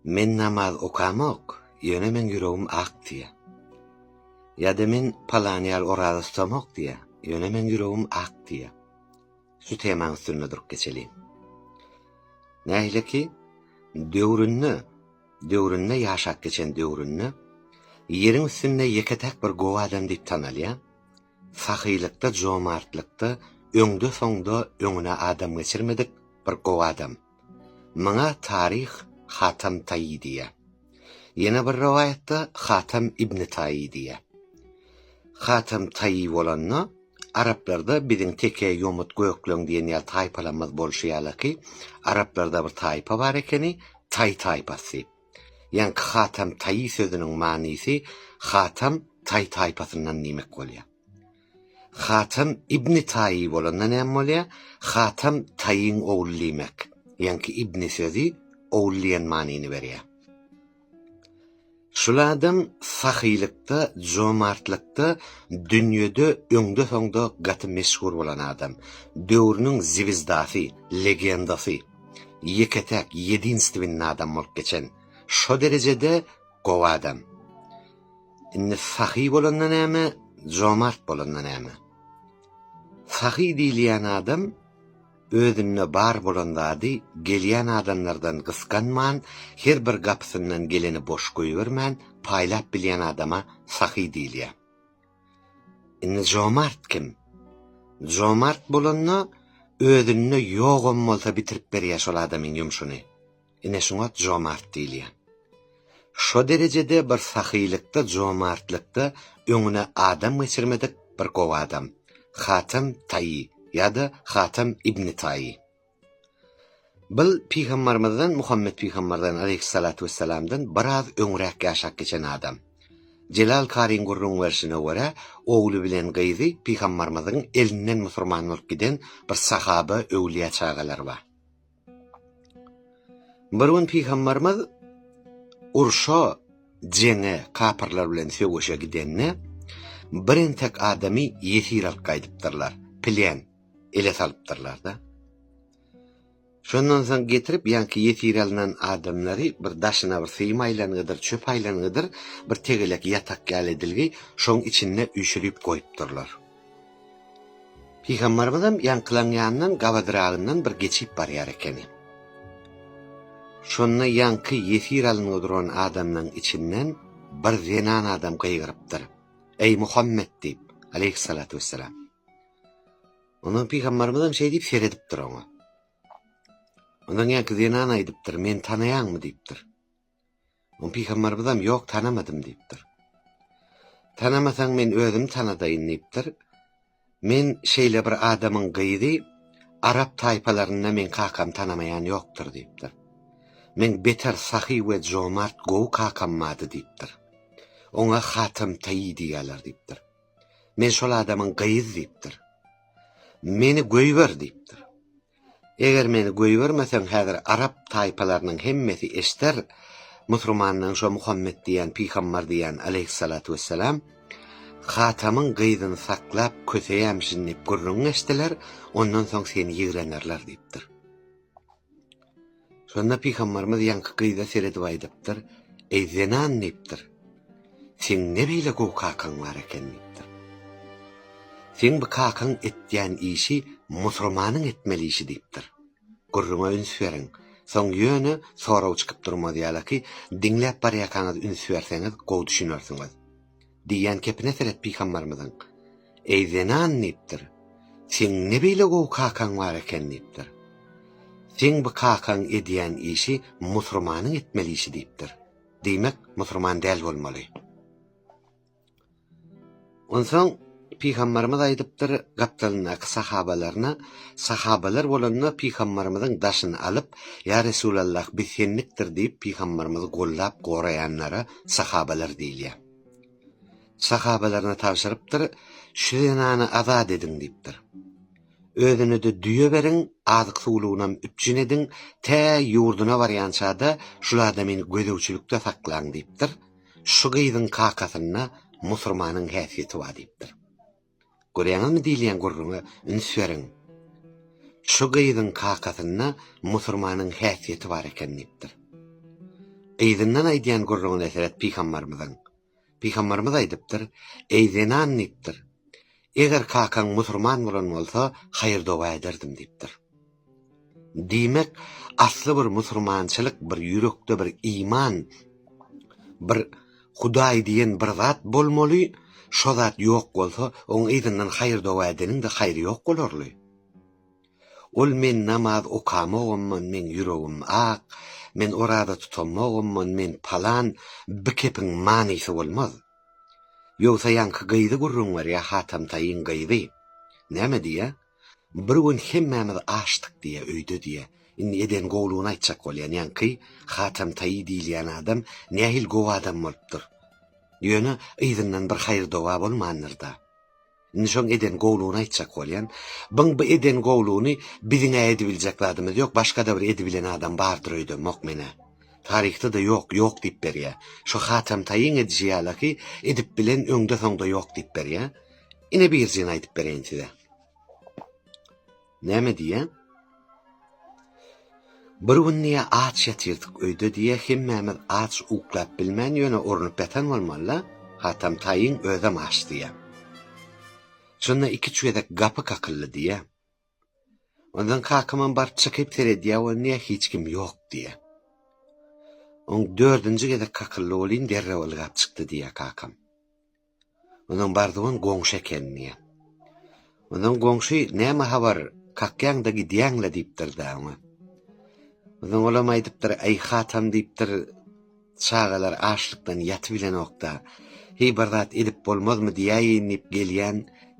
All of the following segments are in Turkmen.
Men namaz okamok, ýöne meň ýüregim ak diýýä. Ýa-da men palan ýaly oraza tutamok diýýä, ýöne meň ýüregim ak diýýä. Şu temaň üstünde durup geçeliň. Nähileki, döwründe, döwründe ýaşap geçen döwründe Ýeriň üstünde ýeke-täk bir gowy adam diýip tanalýan, sahylykda, jomartlykda öňde-soňda öňüne adam geçirmedik bir gowy adam. Muňa taryh Hatam Taýy diýýär. Ýene bir rowaýatda Hatam ibni Taýy diýýär. Hatam Taýy bolanda, araplarda biziň teke, ýomut, gökleň diýen ýaly taýpalarymyz bolşy ýalyky, araplarda bir taýpa bar ekeni, Taý taýpasy. Ýaňky Hatam Taýy sözüniň manysy Hatam Taý taýpasyndan diýmek bolýar. Hatam ibni Taýy bolanda näme bolýar? Hatam Taýyň ogly diýmek. Ýaňky ibni sözi ogul diýen manyny berýär. Şul adam sahylykda, jomartlykda dünýede öňde-soňda gaty meşhur bolan adam. Döwrüniň zwizdasy, legendasy, ýeke-täk, ýedinstwennä adam bolup geçen. Şo derejede gowy adam. Indi sahy bolanda näme, jomart bolanda näme? Sahy diýilýän adam özünde bar bolan zady gelýän adamlardan gysganman, her bir gapysyndan geleni boş goýbermän, paýlap bilýän adama sahy diýilýär. Indi jomart kim? Jomart bolanda özünde ýogam bolsa bitirip berýär şol adamyň ýumşuny. Ine şuňa jomart diýilýär. Şo derejede bir sahylykda jomartlykda öňüne adam geçirmedik bir gowy adam, Hatem Taýy ýa-da Hatem ibni Taýy. Bil Pygambarymyzdan Muhammet Pygambardan aleýhyssalatu wessalamdan biraz öňräk ýaşap geçen adam. Jelal Karyň gürrüň berşine görä, ogly bilen gyzy Pygambarymyzyň elinden musurman bolup giden bir sahaba öwlýä çagalary bar. Bir gün pygamberimiz urşa, jeňe, kapyrlar bilen söweşe gidende bir entek adamy ýesir alyp gaýdypdyrlar, plen ele salypdyrlar-da. Şondan soň getirip, ýaňky ýesir alnan adamlary bir daşyna bir syýym aýlangydyr, çöp aýlangydyr bir tegelek ýatak ýaly edilgi, şoň içinde üýşürip goýupdyrlar. Pygamberimiz-em ýaňkylaň ýanyndan gabadyragyndan bir geçip barýar ekeni. Şonda ýaňky ýesir alyngy duran adamlaň içinden bir zenan adam gygyrypdyr, Eý, Muhammet! diýip, aleýhyssalatu wessalam. Ondan Pygamberimiz-em şeý diýip seredipdir oňa. Ondan ýaňky zenan aýdypdyr, Meni tanaýaňmy? diýipdir. Muny pygambarymyzam ýok tanamadym diýipdir. Tanamasaň men özüm tanadaýyn diýipdir. Men şeýle bir adamyň gyzy arap taýpalarynda meň kakam tanamaýan ýokdur diýipdir. Meň beter sahy we jomart gowy kakam bady diýipdir. Oňa Hatem Taýy diýýärler diýipdir. Men şol adamyň gyz diýipdir. Meni göýber diýipdir. Eger meni göýbermeseň häzir arap taýpalarynyň hemmesi eşder musurmanlaň şo Muhammet diýen pygambar diýen aleýhissalatu wessalam Hatamyň gyzyny saklap köseýämişin diýip gürrüňiň eşdiler ondan soň seni ýigrenerler diýipdir. Şonda pygambarymyz ýaňky gyza seredip aýdypdyr, Eý zenan diýipdir, seň ne beýle gowy kakaň bar eken diýipdir. Seň bu kakaň etýän işi musurmanyň etmeli işi diýipdir. Gürrüňe üns beriň. Soň ýöne sorag çykyp durmaz ýalaki, diňläp barýakaňyz üns berseňiz gowy düşünersiňiz. Diýýän kepine seret pygambarymyzyň, Eý zenan diýipdir, seň ne beýle gowy kakaň bar eken diýipdir. Seň bu kakaň edýän işi musurmanyň etmeli işi diýipdir. Diýmek musurman däl bolmaly. Onsoň pygambarymyz aýdypdyr gapdalyndaky sahabalaryna, sahabalar bolanda pygambarymyzyň daşyny alyp, Ýa Resulallah biz sendikdir diýip pygambarymyzy gollap goraýanlara, sahabalar diýilýär. Sahabalaryna tabşyrypdyr, şu zenany azat ediň diýipdir. Özüne-de düýe beriň, azyk-suwlugynam üpjün ediň, tä ýurduna barýança-da şul adamyny gözegçilikde saklaň diýipdir. Şu gyzyň kakasynda musurmanyň häsiýeti bar diýipdir. Görýäňizmi diýilýän gürrüňe üns beriň. Şu gyzyň kakasynda musurmanyň häsiýeti bar eken diýipdir. Gyzyndan aýdýan gürrüňine seret Pygambarymyzyň. Pygambarymyz aýdypdyr, Eý zenan diýipdir. Eger kakaň musurman bolan bolsa haýyr-doga ederdim diýipdir. Diýmek, asly bir musurmançylyk, bir ýürekde bir iman, bir Hudaý diýen bir zat bolmaly, şo zat ýok bolsa, oň yzyndan haýyr-doga edeniň-de haýry ýok bolarly. Ol men namaz okamogymman, meň ýüregim ak, men oraza tutamogymman, men palan, bi kepiň manysy bolmaz. Ýogsa ýaňky gyzy gürrüň berýär, Hatamtaýyň gyzy. Näme diýýär? Bir gün hemmämiz açdyk diýýä öýde diýýä. Indi eden gowlugyny aýtjak bolýan ýaňky Hatem Taýy diýilýän adam nähili gowy adam bolupdyr. Ýöne yzyndan bir haýyr-doga bolmandyr-da. Indi şoň eden gowlugyny aýtjak bolýan. Byň bu eden gowlugyny biziň-ä edibiljek zadymyz ýok, başga-da bir edibilen adam bardyr öýdemok men-ä. Taryhda-da ýok, ýok diýip berýä. Şu Hatem Taýyň edişi ýalaky edip bilen öňde-soňda ýok diýip berýä. Ine birzini aýdyp bereýin size. Näme diýýän? Bir gün diýe aç ýatyrdyk öýde diýe hemmämiz aç uklap bilmän ýöne urnup ýatan bolmaly. Hatam taýyň özem aç diýe. Şonda iki-üç gezek gapy kakyldy diýe. Ondan kakamam baryp çykyp seredýär we niýe hiç kim ýok diýýär. Oň dördünji gezek kakyldy welin derrew ylgap çykdy diýýär kakam. Ondan bardygan goňşy eken diýýär. Ondan goňşy näme habar kakýaňda gidýäňle diýipdir-de oňa. Ondan olam aýdypdyr, aý hatam diýipdir, Çagalar açlykdan ýatybilenok-da, heý bir zat edip bolmazmy diýäýin diýip gelýän,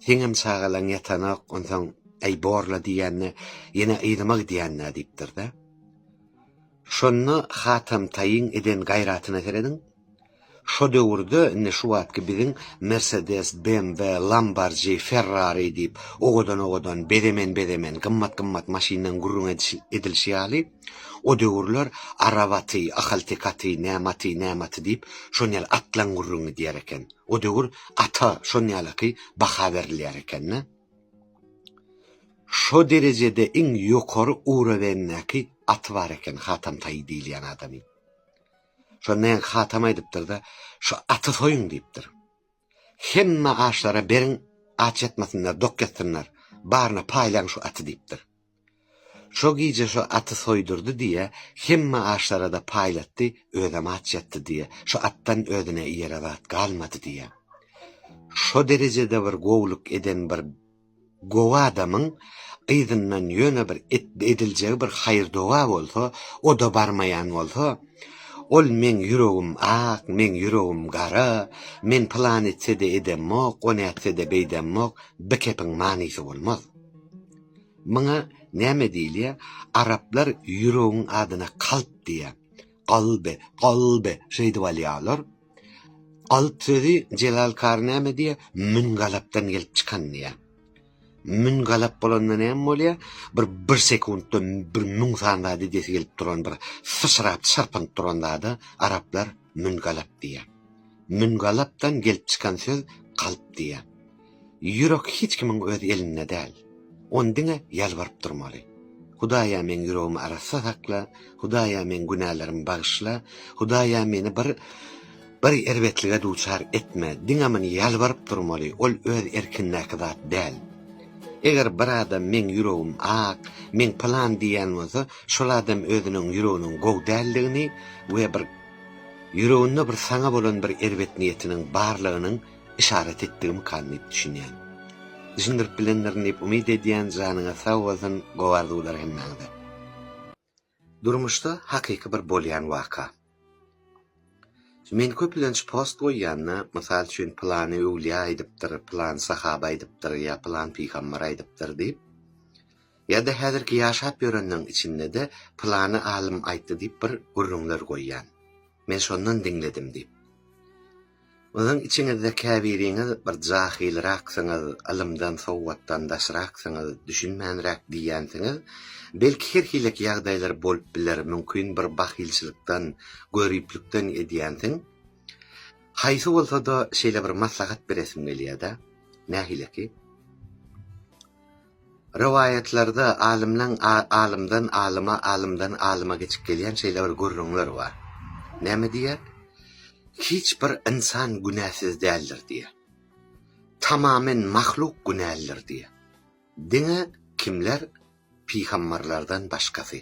seňem çagalaň ýatanok, onsoň äý bor-la diýende, ýene yzyma gidýän-dä diýipdir-de. Şonda Hatam taýyň eden gaýratyna serediň. Şo döwürde, indi şu wagtky biziň Mersedes, BMW, Lambarji, Ferrari diýip, owadan-owadan, bezemen-bezemen, gymmat-gymmat maşyndan gürrüň edilişi ýaly, O döwürler arap aty, ahalteke aty, näme aty, näme aty diýip, şon ýaly atlaň gürrüňi gidýär eken. O döwür ata şon ýalyky baha berilýär eken-de. Şo derejede iň ýokary uroweňdäki aty bar eken Hatam taýy diýilýän adamyň. Şonda ýaňky Hatam aýdypdyr-da, Şu aty soýuň diýipdir. Hemme açlara beriň, aç ýatmasynlar, dok ýatsynlar. Baryna paýlaň şu aty diýipdir. Şo gije şo aty soýdurdy diýe, hemme açlara-da paýlatdy, özem aç ýatdy diýe, şo atdan özüne iýere zat galmady diýe. Şo derejede bir gowulyk eden bir gowy adamyň yzyndan ýöne bir ediljegi bir haýyr-doga bolsa, o-da barmaýan bolsa, ol meň ýüregim ak, meň ýüregim gara, men pylany etse-de edemmok, ony etse-de beýdemmok, bikepiň manysy bolmaz. Muňa näme diýilýär? Araplar ýüregiň adyna kalp diýýär. Kalby, kalby şeýdip alýarlar. Kalp sözi Jelal Kary näme diýýär? Mün galapdan gelip çykan diýýär. Mün galap bolanda näme bolýar? Bir bir sekuntda bir müň sany zat edesi gelip duran bir syçrap çyrpynyp duran zada araplar mün galap diýýär. Mün galapdan gelip çykan söz kalp diýýär. Ýürek hiç kimiň öz elinde däl. Ony diňe ýalbaryp durmaly. Hudaýa meň ýüregimi arassa sakla, Hudaýa meň günälerimi bagyşla, Hudaýa meni bir bir erbetlige duçar etme diňe muny ýalbaryp durmaly, ol öz erkindäki zat däl. Eger bir adam meň ýüregim ak, meň pylan diýýän bolsa, şol adam özüniň ýüreginiň gowy däldigini we bir ýüreginde bir saňa bolan bir erbet niýetiniň barlygynyň Yşarat etdigimikam diýip düşünýän. Düşündirip bilendirin diýip umyt edýän janyňyz sag bolsun gowy arzuwlar hemmäňize. Durmuşda hakyky bir bolýan waka. Men köplenç post goýýanda, mysal üçin pylany öwlýä aýdypdyr, pylany sahaba aýdypdyr ýa pylan pygambar aýdypdyr diýip, ýa-da häzirki ýaşap ýörenleriň içinde-de pylany alym aýtdy diýip bir gürrüňler goýýan. Men şondan diňledim diýip. Biziň içiňizde käbiriňiz bir jahylraksyňyz, ylymdan, sowatdan daşraksyňyz, düşünmänräk diýýänsiňiz. Belki her hilek ýagdaýlar bolup biler, mümkin bir bahylçylykdan, göriplikden edýänsiň. Haýsy bolsada şeýle bir maslahat beresim gelýäda. Nähileki? Rowaýatlarda alymdan alymdan alyma, alymdan alyma geçip gelýän şeýle bir gürrüňler bar. Näme diýýär? Hiç bir ynsan günäsiz däldir diýýär. Tamamen mahluk günälidir diýýär. Diňe kimler? Pygambarlardan başgasy.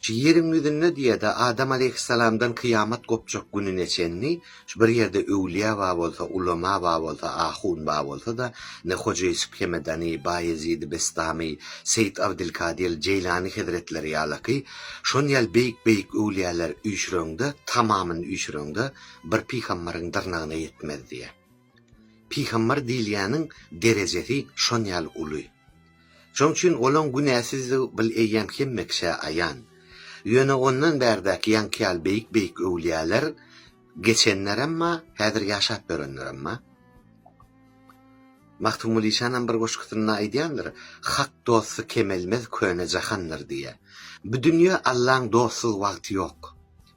Şu ýeriň ýüzünde diýe-de Adam aleýhyssalamdan kyýamat gopjak gününe çenli şu bir ýerde öwlüýä bar bolsa, ulema bar bolsa, ahun bar bolsa-da, ine Hoja Ýusup Hemedany, Baýezidi Bestamy, Seýit Abdylkadyr Jeýlany hezretleri ýalaky şon ýaly beýik-beýik öwlüýäleri üýşüreňde, tamamyny üýşüreňde, bir pygambaryň dyrnagyna ýetmez diýýä. Pygambar diýilýäniň derejesi şon ýaly uly. Şoň üçin olaň günäsizdigi bil eýýäm hemme kişä aýan. Ýöne ondan bärdäki ýaňky ýaly beýik-beýik öwlüýäler geçenleremma, häzir ýaşap ýörenleremma. Magtymguly şanam bir goşgusynda aýdýandyr, Hak dosty kemelmez köne jahandyr diýýär. Bu dünýä Allaň dostsuz wagty ýok.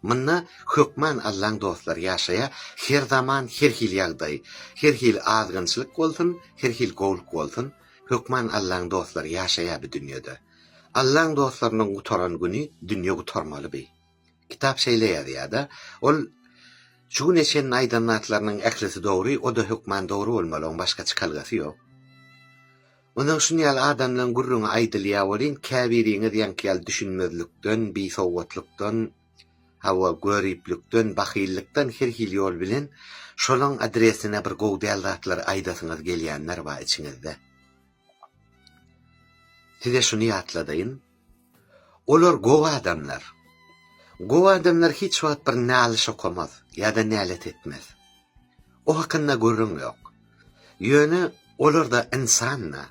Munda Hökman Allaň dostlary ýaşaýa Her zaman her hili ýagdaý Her hili azgynçylyk bolsun Her hili gowlyk bolsun Hökman Allaň dostlary ýaşaýa bi dünýede Allaň dostlarynyň gutaran güni dünýe gutarmaly bi Kitap şeýle ýazýada ol Şu güne çenli aýdan zatlarynyň ählisi dogry oda hökman dogry bolmaly oň başga çykalgasy ýok. Onsoň şuny ýaly adamlaryň gürrüňi aýdylýar welin, käbiriňiz ýaňky ýaly düşünmezlikden, bisowgatlykdan, hawa, göriplikden, bahyllykdan her hili ýol bilen şolaryň adresine bir gowy däl zatlary aýdasyňyz gelýänler bar içiňizde. Size şuny ýatladaýyn. Olar gowy adamlar. Gowy adamlar hiç wagt bir nalyş okamaz ýa-da nälet etmez. O hakynda gürrüň ýok. Ýöne olar-da ynsan-da.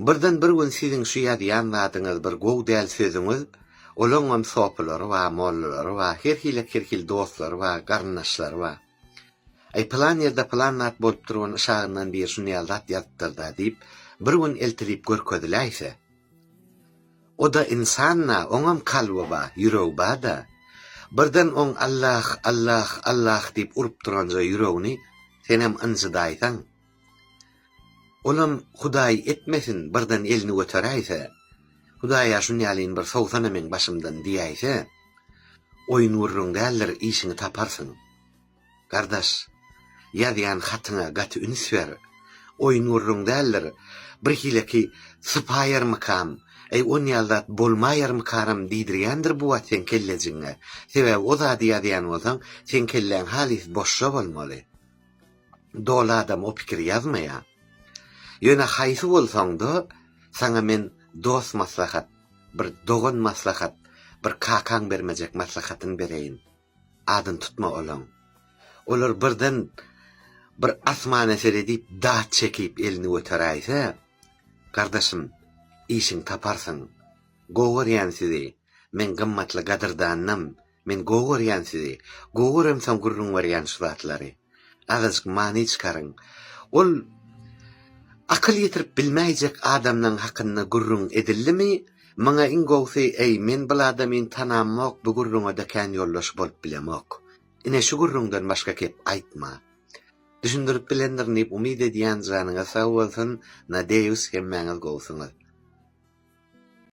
Birden bir gün siziň şu ýazýan zadyňyz bir gowy däl sözüňiz, olaňam sopylary bar, mollalary bar, her hili kirhil dostlary bar, garyndaşlary bar. Aý pylan ýerde pylan zat bolupdyr, ony şagyndan biri şunýal zat ýazypdyr-da diýip, bir gün eltilip görkeziläýse, O-da ynsan-a, oňam kalby ba, ýüregi ba-da. Birden oň Allah, Allah, Allah diýip urup duranja ýüregini senem ynjydaýsaň. Olam Hudaý etmesin, birden elini göteräýse, Hudaý-a şunýalyn bir sowsana meň başymdan diýäýse, oýun-gürrüň däldir, işiňi taparsyň. Gardaş, ýazýan hatyňa gaty üns ber. Oýun gürrüň däldir. Birhileki sypaýarmykam, eý, on ýaly zat bolmaýarmykaram diýdirýändir bu wagt seň kellejigiňe. Sebäbi o zady ýazýan bolsaň, seň kelläň halys boş-a bolmaly. Doly adam o pikiri ýazmaýa. Ýöne haýsy bolsaň-da, saňa men dost maslahat, bir dogan maslahat, bir kakaň bermejek maslahatyny bereýin. Adyny tutma olaň. Olar birden bir asmana seredip daş çekip elini göteräýse, Gardaşym, işiň taparsyň. Gowy görýän sizi. Men gymmatly gadyrdanynam. Men gowy görýän sizi. Gowy göremsoň gürrüň berýän şu zatlary. Azajyk many çykaryň. Ol akyl ýetirip bilmäýjek adamlaň hakynda gürrüň edildimi, Maňa iň gowsy eý men bul adamyn tanamok bu gürrüňede kän ýoldaş bolup bilemok. Ine şu gürrüňden başga kep aýtma. Düşündirip bilendirin diýip umyt edýän janyňyz sag bolsun nadeýus hemmäňiz gowusyňyz.